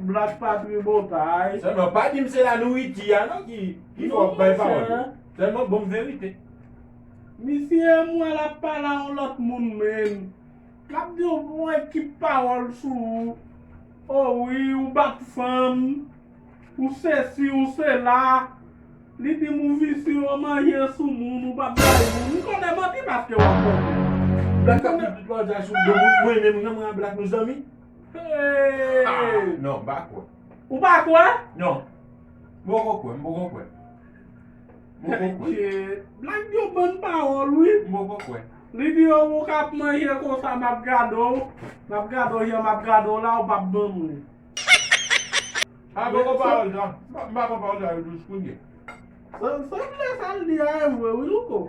Black pa tribotay. Selman pa dim se la nouriti a non ki ki fè wap bay pawòl yo. Selman bonm verite. Misye m wè lap pale a yon lòt moun menn. Lap di yon bon ekip pawòl sou ou. Oh wi ou bat fanm, ou sesi ou sela. Li dim ou visye ou manje sou moun ou pap bay moun. M konnen manti paske wap manti. Black ap di tout lòt sa sou do moun. Mwen menm renmen a Black nou zanmi. Non, m pa kwè. Ou pa kwè? Non. M poko kwè, m poko kwè. M poko kwè. Blag yo ban pawòl wi. M poko kwè. Li di yo ou kap manje konsa map gade w. Map gade w jan map gade w la ou pap ban m li. M poko kwè pawòl sa. M pa kwè pawòl sa yo dous kounye. Sanble sa l di a e vre wi louko.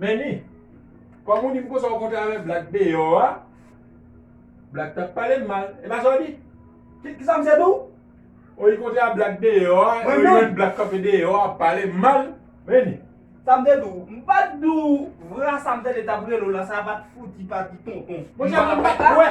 Meni, kòm ou di m konsa ou monte avèk Black deyò a, Black t ap pale m mal. E pa sa w di? Ki sa misye di w? Ou li kontre a Black deyò a, ou li wè Black kanpe deyò a ap pale m mal. Meni. Sa m te di w? M pa t di w vra sa m tande t ap rele w la, sa pa t fouti pa di tonton. Monchè mwen pa t kwè.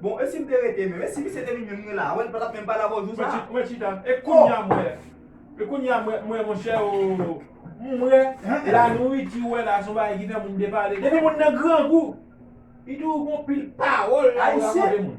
Bon e sim te rete menm. E si misye te vin menm mwen la. Wè li patap menm pale avèw jou sa. Mwen chita. E kounya m wè. E kounya m wè m wè monchè oo. M wè la nouriti ou wè la son bagay ki fè moun depale. Depi moun nan grangou. Li toujou gon pil pawòl la pou rakonte moun.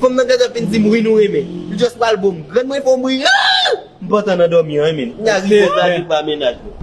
Fanm nan gentan fin dim wi nou renmen li just pral boom grann mwen fom ri aah m pantan nan domi an rinmin kounya ri bon sa ri pa mennaj mwen.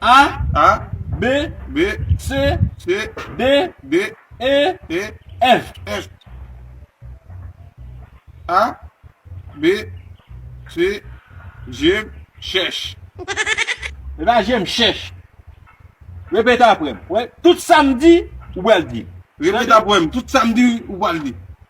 A, A, B, B, C, C, D, D, E, E, F, F, A, B, C, Jem chèch. Se pa jem chèch. Repete apre m. Tout sa m di, ou pral di. Repete apre m. Tout sa m di, ou pral di.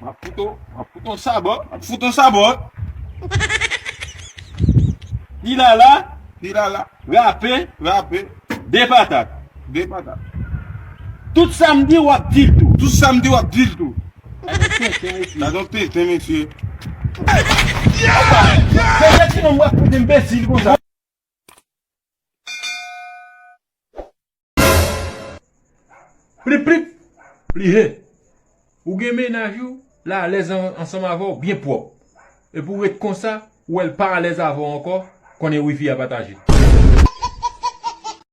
Map fout ou, map fout ou sabò, map fout ou sabò. Ti lala, ti lala, rape, rape, de patat, de patat. Tout sa m di wap dil tou. Tout sa m di wap dil tou. Gadon tenten mesye. Gadon tenten mesye. Yeyy! Mesye ti nonm wap fout enbesil konsa. Plip plip Li he Ou gen mennaj ou l alèz ansanm avè w byen pwòp epi ou ret konsa ou wè l pa alèz avè w ankò konnen wifi a pataje.